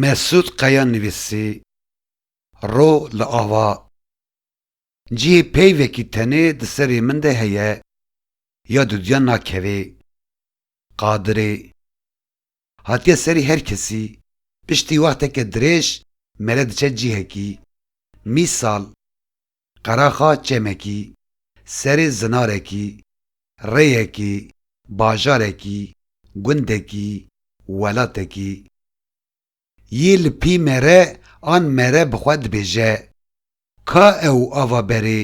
Mesûd Qaya nivîsî, Ro li ava cihê peyvekî tenê di serê min de heye ya dudya nakevê. Qadirê, hatiye serê her kesî, piştî wexteke dirêj mere diçe cihekî, mîsal Qeraxa çemekî, serê zinarekî, rêyekî, bajarekî, gundekî, welatekî. Yê li pî mere an mere bi xwe dibêje, Ka ew ava berê?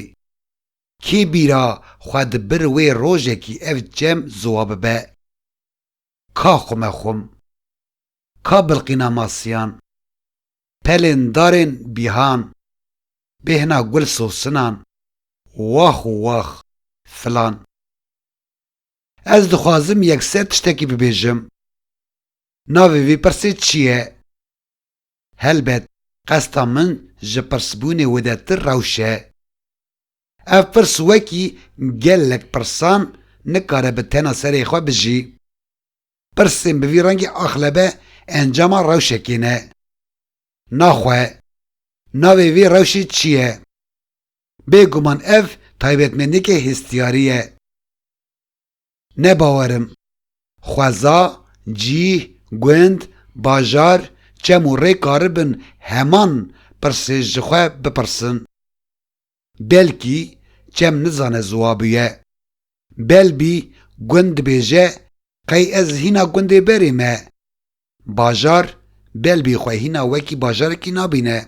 Kê bîra xwe di bir wê rojekî ev çem ziwa bibe? Ka Xumexum, Ka Bilqîna Masiyan, Pelên Darên Bîhan, Bêhna Gul Sosinan, Wax û Wax, Filan. Ez dixwazim yekser tiştekî bibêjim. Navê vê pirsê çi ye? Helbet qesta min ji pirsbûnê wedertir rewş e. Ev pirs wekî gelek pirsan nikare bi tena serê xwe bijî. Pirsên bi vî rengê axlebe encama rewşekê ne. Naxwe, navê vê rewşê çi ye? Bêguman ev taybetmendiyeke hestiyarî ye. Ne bawer im. Xweza, cîh, gund, bajar, çem û rê karibin heman pirsê ji xwe bipirsin. Belkî çem nizane ziwabiye. Belbî gund dibêje qey ez hîna gundê berê me. Bajar belbî xwe hîna wekî bajarekî nabîne.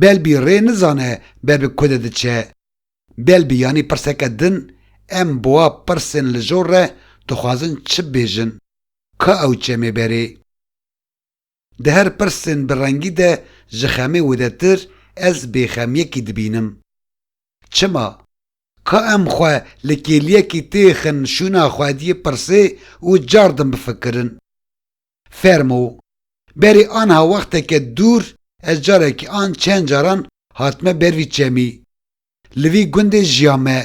Belbî rê nizane bebi kude diçe. Belbî yanî pirseke din, em bi wa pirsên lijor re dixwazin çi bibêjin? Ka ew çemê berê? Di her pirsên bi rengî de ji xemê widetir ez bêxemiyekî dibînim. Çima? Ka em xwe li kêliyekî têxin şûna xwediyê pirsê û cardin bifikirin. Fermo, berê anha wexteke dûr ez carekî an çend caran hatime ber vî çemî. Li vî gundê jiya me,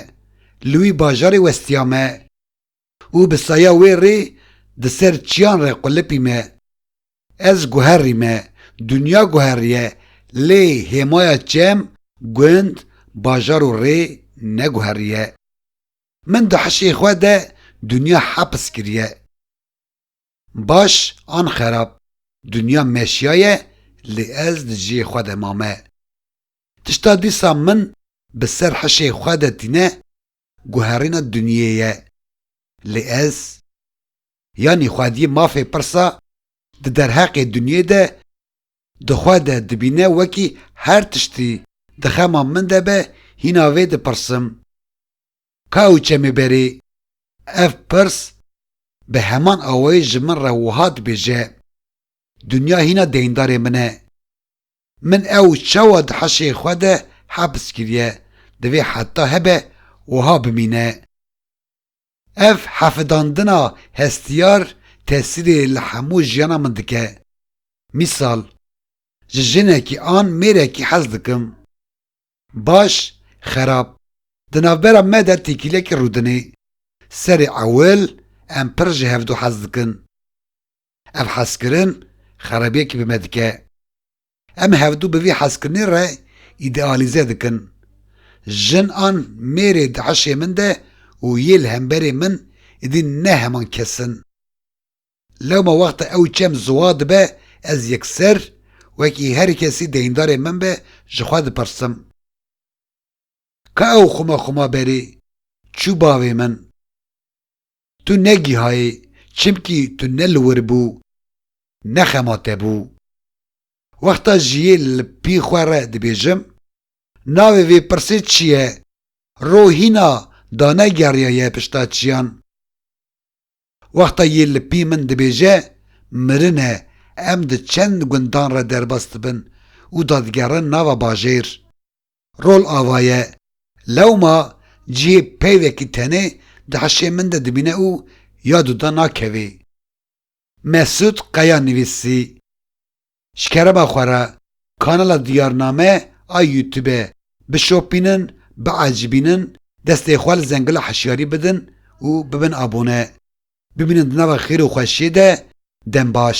li wî bajarê westiya me û bi saya wê rê di ser çiyan re qulipî me. Ez guherî me, dinya guheriye lê hêmaya çem, gund, bajar û rê neguheriye. Min di hişê xwe de dinya heps kiriye. Baş an xerab, dinya meşiya ye lê ez di cihê xwe de mame. Tişta dîsa min bi ser hişê xwe de tîne guherîna dinyê ye. Lê ez, yanî xwediyê mafê pirsa di derheqê dinyê de di xwe de dibîne wekî her tiştî di xema min de be hîna vê dipirsim. Qew çemê berê. Ev pirs bi heman awayî ji min re wiha dibêje, Dinya hîna deyndarê min e. Min ew çawa di heşê xwe de hebs kiriye, divê heta hebe wiha bimîne. Ev hefidandina hestiyar tesîrê li hemû jiyana min dike. Mîsal, ji jinekî an mêrekî hez dikim. Baş, xerab, di navbera me de têkîlekî rûdinê. Serê ewil em pir ji hevdu hez dikin. Ev hezkirin xerabiyekî bi me dike. Em hevdu bi vî hezkirinê re îdealîze dikin. Jin an mêrê di hişê min de û yê li hemberê min êdî ne heman kes in. Lewma wexta ew çem ziwa dibe ez yekser wekî her kesî deyndarê min be ji xwe dipirsim, Ka ew xwima xwima berî çû bavê min? Tu negihayî çimkî tu ne li wir bû ne xema te bû. Wexta jiyê li pî xwe re dibêjim, Navê vê pirsê çi ye? Ro hîna danegeriyaye pişta çiyan. Wexta yê li pî min dibêje mirin e, em di çend gundan re derbas dibin û dadigerin nava bajêr. Rol ava ye. Lewma cihê peyvekî tenê di hişê min de dibîne û ya dûda nakevê. Mesûd Qeya nivîsî. Ji kereba xwe re kanala Diyarname a Youtube bişopînin, biecibînin, destê xwe li zengila hişyarî bidin û bibin abone. Bimînin di nava xêr û xweşiyê de. Dem baş.